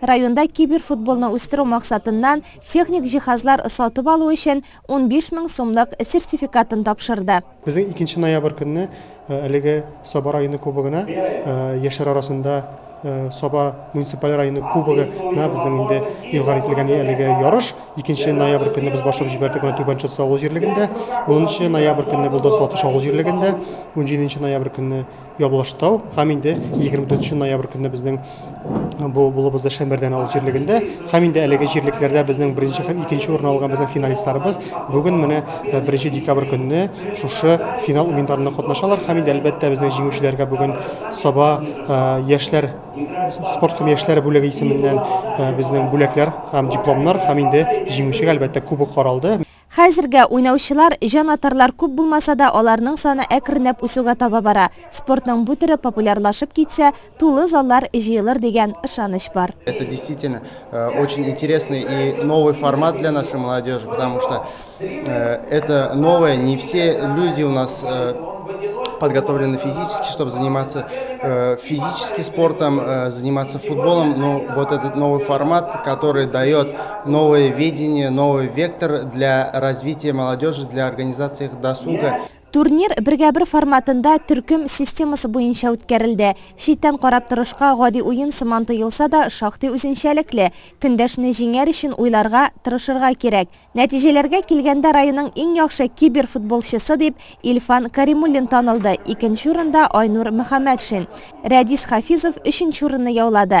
Районда киберфутболны үстерү максатыннан техник җиһазлар сатып алу өчен унбиш мең сумлык сертификатын тапшырды. Безнең икенче ноябрь көнне әлеге Саба районы кубогына, яшьләр арасында Саба муниципаль районы кубогы на безнең инде игълан ителгән әлеге ярыш. Икенче ноябрь көнне без башлап җибәрдек моны Түбән Чытсы авыл җирлегендә. Унынчы ноябрь көнне булды Сатыш авыл җирлегендә. Унҗиденче ноябрь көнне Ябылыштау һәм инде 24 ноябрь көнне безнең бу булыбызда Шәмбәрдән авыл җирлегендә һәм инде әлеге җирлекләрдә безнең беренче һәм икенче урын алган безнең финалистларыбыз бүген менә 1 декабрь көнне шушы финал уеннарында катнашалар һәм инде әлбәттә безнең җиңүчеләргә бүген Саба яшьләр спорт һәм яшьләр бүлеге исеменнән безнең бүләкләр һәм дипломнар һәм инде җиңүчегә әлбәттә кубок каралды. Хәзергә уйнаучылар, җан-атарлар күп булмаса да, аларның саны әкренләп үсүгә таба бара. Спортның бу төре популярлашып китсә, тулы заллар җыелыр дигән ышаныч бар. Это действительно очень интересный и новый формат для нашей молодежи, потому что это новое, не все люди у нас подготовлены физически, чтобы заниматься э, физически спортом, э, заниматься футболом, но вот этот новый формат, который дает Новое видение, новый вектор для развития молодежи, для организации их досуга. Турнир бергә-бер форматында төркем системасы буенча үткәрелде. Читтән карап торышка гади уен сыман тоелса да, шактый үзенчәлекле. Көндәшне җиңәр өчен уйларга, тырышырга кирәк. Нәтиҗәләргә килгәндә районның иң яхшы киберфутболчысы дип Илфан Каримуллин танылды, икенче урында Айнур Мөхәммәтшин. Рәдис Хафизов өченче урынны яулады.